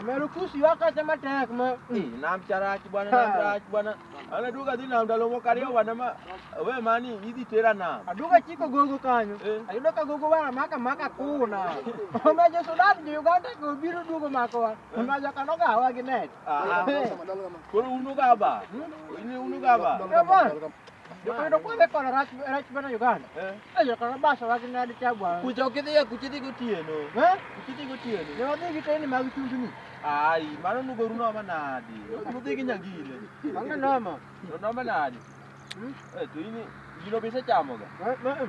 Amerukusi wakasema tek ma. Eh, na mchara achi bwana na mchara achi bwana. Ana duka dhi na mdalo mokario bwana ma. We mani idhi tera na. Aduka chiko gogo kanyo. Eh. Ayudo ka gogo wana maka maka kuna. Ona je Sudan je Uganda ko biro dugo mako wa. Ona ja kano ga wa gi net. Ah. Koro unu ga ba. Hmm? Ini unu ga ba. Come on. Ndio kwa kwa kwa rach rach bana Uganda. Eh. Ayo kwa basa wa kina hadi tabu. Kuja ukithia kuchithi gotieno. Eh? Kuchithi gotieno. Ni wathi giteni ma gitundu ni. Ai, mano nugo runo manadi. Nuthi ginyagile. Manga noma. Noma nadi. Hmm? Eh, tu ini gino bisa chamoga. Eh, eh.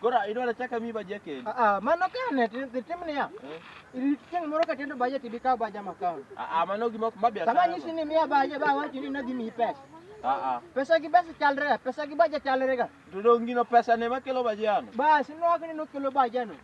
Koro idwaro chaka mi baje kendo. Ah, ah, mano ka ne tim niya. Eh? Chieng' moro ka tendo baje tibi kaw baja makaw. Ah, ah, mano gima ma biashara. Sama nyisi ni miya baje ba wachi ni nadhi miyi pesa. Ah, ah. Pesa gi basi chalre, pesa gi baje chalre ga. Dodongino pesa ne makelo bajano. Basi nwagni nokelo bajano.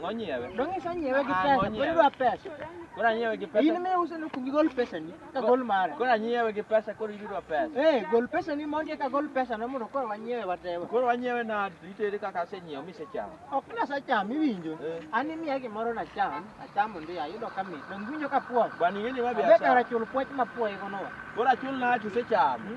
Ng'onyiewe. Dong iso nyiewe gi Ah, pesa, pod ng'onyiewe. idwa pesa. Koro anyiewe gi In pesa. mi uso ni kugi gol pesa ni, ka gol mare. Koro anyiewe gi pesa koro idwa pesa. Eh, gol pesa ni mondi eka gol pesa no mondo koro wanyiewe watewa. Koro wanyiewe na itere kaka asenyiewo misechamo. Ok nasa cham iwinjo. Eh. An imiya gimoro na cham, achamo ndi ayudo ka mit. Dong iwinjo ka puoch. Bwana ing'e ni ma Abe kara biashara. chul puoch ma puoye gono. Koro achul na achu sechamo.